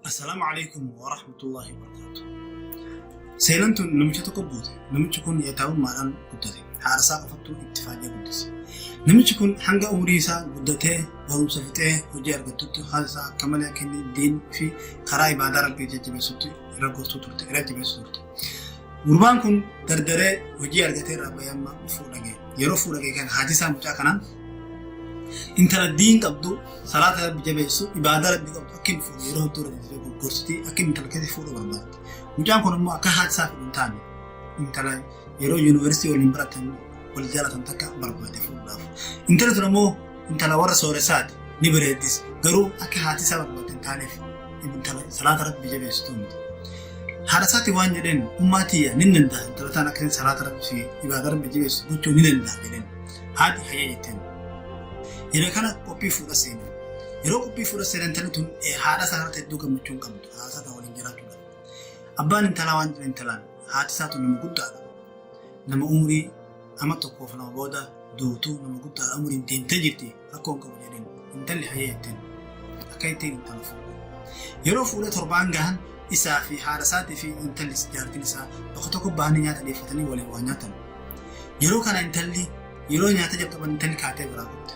Assalaamu alaikum wa rahmatullahi wa barakatuh. Seenaan tun namicha tokko buute. Namichi kun yataa'ummaadhaan guddate. Haadha isaa qofattuu itti faayyaa guddise. Namichi kun hanga umurii isaa guddatee barumsa fixee hojii argattutti haala isaa akka malee akka inni diin fi karaa ibaadaa rabbii jajjabeessutti irra gortuu turte, irra jabeessu turte. Gurbaan kun dardaree hojii argatee irraa bahee amma fuudha ga'e. Yeroo fuudha ga'e kana haati isaa mucaa kanaan intala diin qabdu salaata rabbi jabeessu ibaadaa rabbi qabdu akka hin fuudhu yeroo hedduu irratti gurgursitii akka intala keessa fuudhu barbaadde. Mucaan kun immoo akka haati isaa fedhu hin taane intala yeroo yuunivarsiitii waliin baratan wal jaalatan takka barbaade fuudhaaf. Intala tun immoo intala warra sooressaati ni bareeddis garuu akka haati isaa barbaadde hin taaneef intala salaata rabbi jabeessitu miti. Haadha isaati waan jedheen ummaa tiyya ni danda'a intala taan akka salaata rabbi fi ibaada rabbi jabeessitu gochuu ni danda'a jedheen haati hayya jetteen. Yeroo kana qophii fuudha seena. Yeroo qophii fuudha seena intalli tun haadha isaa irratti hedduu gammachuu hin qabdu haadha isaa waliin jiraachuudha. Abbaan intalaa waan jedhan intalaan haati isaa tun nama guddaadha. Nama umurii Ama tokkoof lama booda duutu nama guddaadha umriin deemtee jirti rakkoon qabu jedheen intalli hayyee jetteen akka ittiin intala fuudhe. Yeroo fuudhee torbaan gahan isaa fi haadha isaatii fi intalli jaartiin isaa bakka tokko bahanii nyaata dhiyeeffatanii waliin waa nyaatan. Yeroo kana intalli yeroo nyaata jalqaban intalli kaatee biraa dhufte.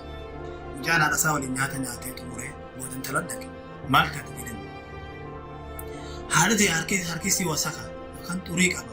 Mucaan haadha isaa waliin nyaata nyaatee xumuree booda intala dhaqe maal taate jedhame. Haadha ta'e harkisii wasaka kan xurii qaba.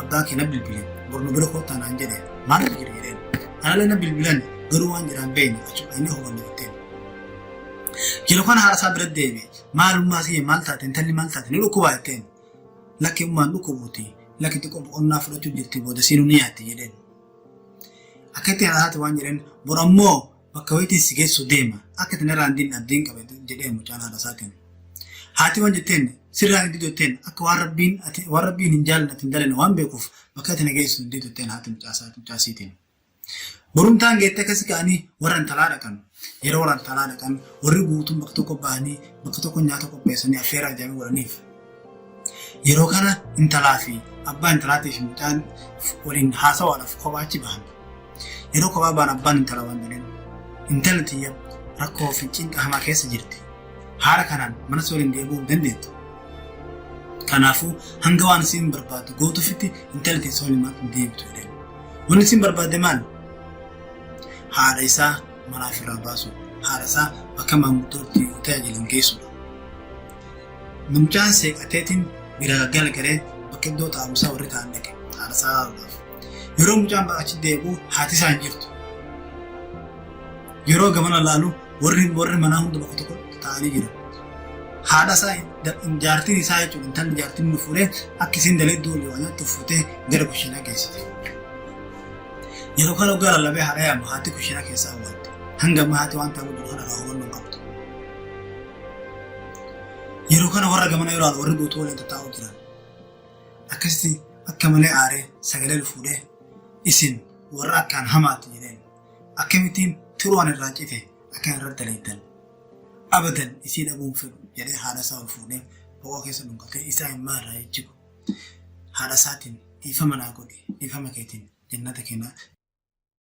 abbaa kee na bilbile bor nu bira koottaa naan jedhe maal irra jira jedheen analee na bilbilan garuu waan jedhaan beeyne achuma dhaqnee hubanne jetteen. Yeroo kana haadha isaa bira deeme maalummaa kiyya maal taate intalli maal taate ni dhukkubaa jetteen lakki ummaan dhukkubuuti lakki xiqqoo boqonnaa fudhachuu jirti booda siinuu ni yaatti jedheen. Akka itti haadha isaati waan jedheen bor ammoo Bakka wayitii si geessu deema. Akka itti narraa hin dinne abdiin qabe jedhee mucaan haadha isaatiin. Haati waan jetteen sirraa hin didu jetteen akka waan rabbiin ati waan rabbiin hin jaallanne ati hin dalanne waan beekuuf bakka ati na geessu hin didu jetteen haati mucaa isaa mucaa isiitiin. Borumtaan geette akkasi ka'anii warra intalaa dhaqan. Yeroo warra intalaa dhaqan warri guutuun bakka tokko bahanii bakka tokko nyaata qopheessanii affeeraa ijaanii godhaniif. Yeroo kana intalaa fi abbaa intalaatii fi mucaan waliin haasawaadhaaf kophaa achi bahan. Yeroo kophaa ba'an abbaan intala waan jedheen intala tiyya rakkoo fi cinqa hamaa keessa jirti. Haala kanaan mana si waliin deebi'uu hin dandeettu. Kanaafuu hanga waan isiin barbaaddu gootuufitti intala tiyya si waliin mana hin deebitu jedheen. Wanni isiin barbaadde maal? Haadha isaa manaa ofirraa baasu. Haadha isaa bakka maanguddootti tajaajilan geessudha. Namichaan seeqateetiin biraa galagalee bakka iddoo taa'umsaa warri taa'an dhaqe haadhasaa ilaaluudhaaf. Yeroo mucaan achi deebi'u haati isaa hin jirtu. Yeroo gamana ilaalu warri warri manaa hunda bakka tokko taa'anii jiru. Haadha isaa jaartiin isaa jechuudha intalli jaartiin nu fuudhee akka isiin daleedduu olii waan nyaattu fuutee gara kushiinaa geessite. Yeroo kana ogaa lallabee haadha yaamu haati kushiinaa keessaa awwaalte. Hanga ammaa haati waan ta'uu dura kana hubannoo qabdu. Yeroo kana warra gamana yeroo warri guutuu waliin tattaa'uu jiran. Akkasitti akka malee aaree sagalee ol fuudhee isin warra akkaan hamaatti jedheen akkamittiin turuwaan irraa cite akka irratti daleettan. Abadan isii dhabuun fedhu jedhee haadha isaa ol fuudhee bo'oo keessa dhungatee isaa immaa irraa jijjigu. Haadha isaatiin dhiifama naa godhi dhiifama keetiin jennata kennaa